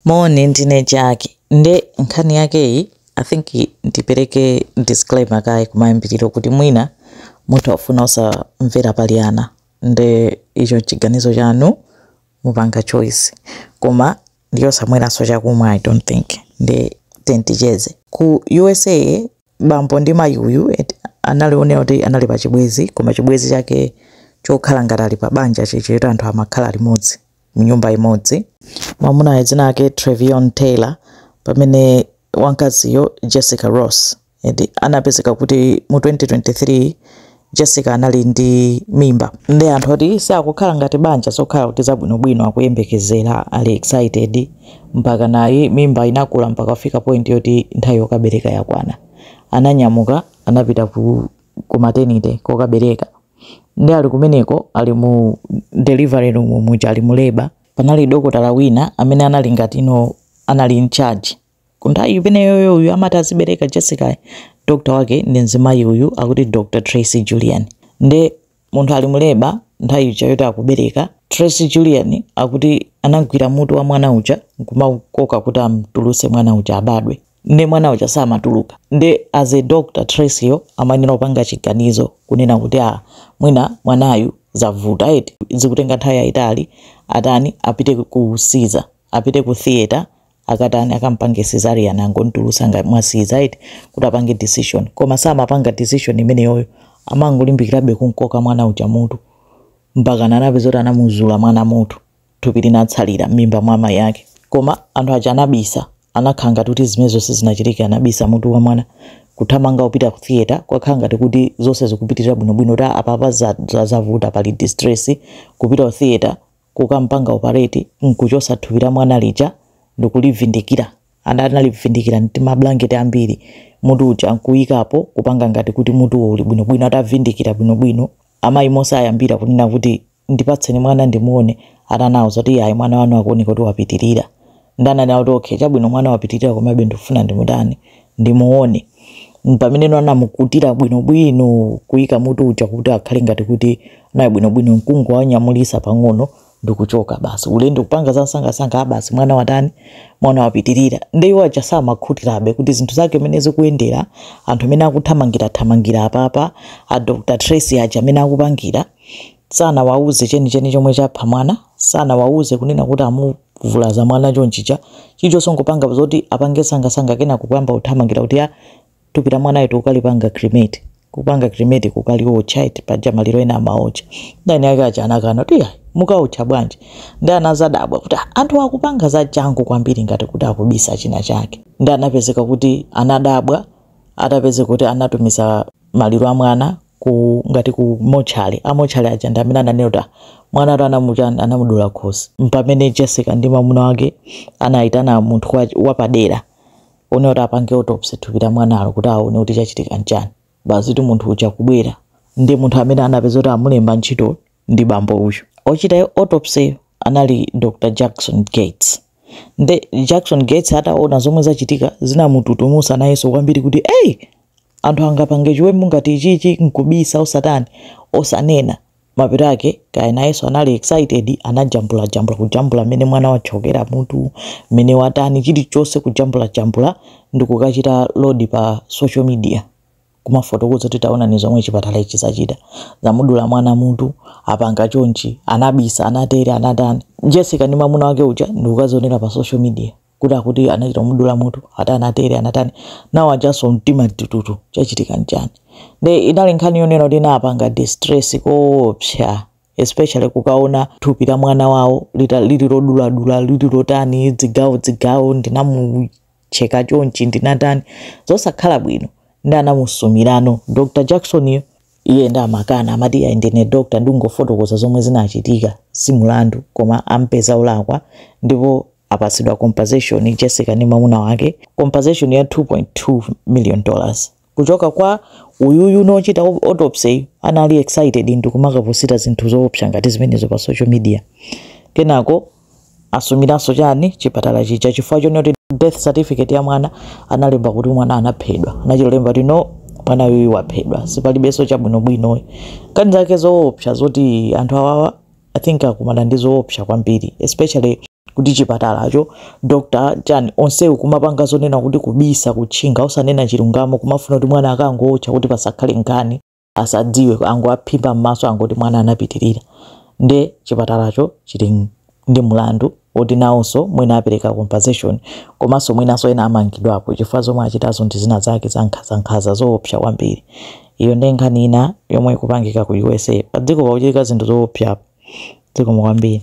Moni ndine Jaki nde nkhani yakeyi I think ndipeleke disclaimer kaye kumayambiliro kuti mwina mutha kufuna osamvera pali ana nde icho ndi chiganizo chanu mupanga choice koma ndi yosamweranso chakumwa I don't think nde tiyeni ticheze. Ku usa bambo ndi mayi uyu eti analionera kuti anali pa chibwezi koma chibwezi chake chokhala ngati ali pa banja chichita anthu amakhala limodzi mnyumba imodzi mwamunayo dzina lake Trevion Taylor pamene wamkaziyo Jessica Ross and anapezeka kuti mu 2023 Jessica anali ndi mimba nde anthu oti si akukhala ngati banja zokhala kuti zabwinobwino akuyembekezera ali excited mpaka nayi mimba inakula mpaka kufika point yoti nthawi yokabereka yakwana ananyamuka anapita ku, ku maternity kokabereka nde ali kumeneko ali mu delivery room muja ali mu labor panali dokotala wina amene anali ngati ndi amene anali in charge Kunthawi imeneyoyo uyu amati azibereka Jessica doctor wake ndi mzimayi uyu akuti Dr Tracy Julian nde munthu ali mu labor nthawi ija yoti akubereka Tracy Julian akuti anagwira mutu wa mwana uja nkumakoka kuti amtulutse mwana uja abadwe nde mwana uja samatuluka nde as a doctor Tracy yo amayenera kupanga chiganizo kunena kuti a mwina mwanayu zavuta eti zikutenga nthawi yayitali atani apite ku Caesar apite ku theater akatani akampange cesarean angontulusa ngati mwa Caesar eti kuti apange decision koma samapanga decision imeneyoyo amangolimbikirabe kunkoka mwana uja mutu mpakana anapeza kuti anamuzula mwana mutu thupi linatsalira m'mimba mwa amayi ake koma anthu aja anabisa anakhala ngati kuti zimene zonse zinachitika anabisa mutu wa mwana kuthamanga kupita ku theater kukakhala ngati kuti zonse zikupitirira bwinobwino kuti apapa za- za- zavuta pali distress kupita ku theater kukampanga operate nkuchosa thupi la mwana lija ndikulivindikira and analivindikira ndi timablanketi ambiri mutu uja nkuikapo kupanga ngati kuti mutuwo uli bwinobwino atavindikira bwinobwino amayi mmene ayambira kunena kuti ndipatseni mwana ndimuone atawauza kuti ayi mwana wanu akuoneka kuti wapitirira nde ananena kuti okay chabwino mwana wapitirira komabe ndikufuna ndimutani ndimuone pamene no anamukutira bwinobwino kuyika mutu uja kuti akhale ngati kuti naye bwinobwino nkungowanyamulisa pang'ono ndikuchoka basi ulendo kupanga za msangasanga a basi mwana watani mwana wapitirira nde iwo aja samakhutirabe kuti zinthu zake mene zikuyendera anthu amene akuthamangira thamangira apapa a dr tracy aja amene akupangira sanawauze chenicheni chomwe chapha mwana sanawauze kunena kuti amuvulaza mwana chonchija chilichonse kungopanga zoti apange msangamsanga kenako kuyamba kuthamangira kuti a thupi la mwanayo tikukalipanga cremate kupanga cremate kukaliwotcha eti paja maliro ena amaotcha nde anyake aja anakana kuti "Ayi, mukaotcha bwanji ndi anazadabwa kuti "Ah, anthu akupanga za changu kwambiri ngati kuti akubisa china chake ndi anapezeka kuti anadabwa atapeza kuti anatumiza maliro a mwana ku ngati ku motchale amotchale aja ndi amene ananena kuti "Ah, mwana atu anamuchani anamudula khosi mpamene jessica ndi mwamuna wake anayitana munthu wa- wapadera onena kuti apange autopsy thupi la mwanalo kuti aone kuti chachitika nchani basi kuti munthu uja kubwera ndi munthu amene anapeza kuti amulemba ntchito ndi bambo uyu. Ochita autopsy yo anali Dr Jackson Gates. Nde Jackson Gates ataona zomwe zachitika zinamututumusa nayenso kwambiri kuti hey! Anthu angapange chiwembu ngati ichichi nkubisa osatani osanena. Mapeto ake kaya nayenso anali excited anajambulajambula kujambula mmene mwana wachokera mutu mmene watani chilichonse kujambulajambula ndikukachita load pa social media. kumafotokoza kuti taonani zomwe chipatala ichi chachita zamudula mwana mutu apanga chonchi anabisa anatere anatani jessica ndi mwamuna wake uja ndikukazionera pa social media kuti akuti anachita kumudula mutu ati anatere anatani nawo ajanso mtima tututu chachitika nchani nde inali nkhani yonena kuti inapanga distress koopsa especially kukaona thupi la mwana wawo lita- lili loduladula lili lotani dzigawo dzigawo ndinamu cheka chonchi ndinatani zosakhala bwino ndi anamusumirano dr jacksoniyo iye nde amakana amati iye ndine dr ndikungofotokoza zomwe zinachitika si mulandu koma ampeza olakwa ndipo apatsidwa compensation jessica ndi mwamuna wake compensation ya 2.2 million dollars kuchoka kwa uyuyu wochita autopsy anali excited ndikumakaposita zinthu zoopsa ngati zimenezo pa social media kenako asumiranso chani chipatala chija chifukwa choti death certificate ya mwana analemba kuti mwana anaphedwa anachita kulemba kuti no mwana uyuyu waphedwa sipalibenso chabwinobwino zinazake zoopsa zoti anthu awawa i think akumana ndi zoopsa kwambiri especially kuti chipatalacho doctor chani onsewu kumapanga zonena kuti kubisa kutchinga osanena chilungamo kumafuna kuti mwana akangomuotcha kuti pasakhale nkhani asadziwe angowaphimba m'maso angoti mwana anapitirira nde chipatalacho chili ndi mlandu woti nawonso mwina apereka compensation komanso mwinanso ena amangidwapo chifukwa zomwe achitazo ndi zina zake zankhazankhaza zoopsa kwambiri iyo ndi nkhani ina yomwe ikupangika ku usa padziko pakuchitika zinthu zoopsa dziko kwambiri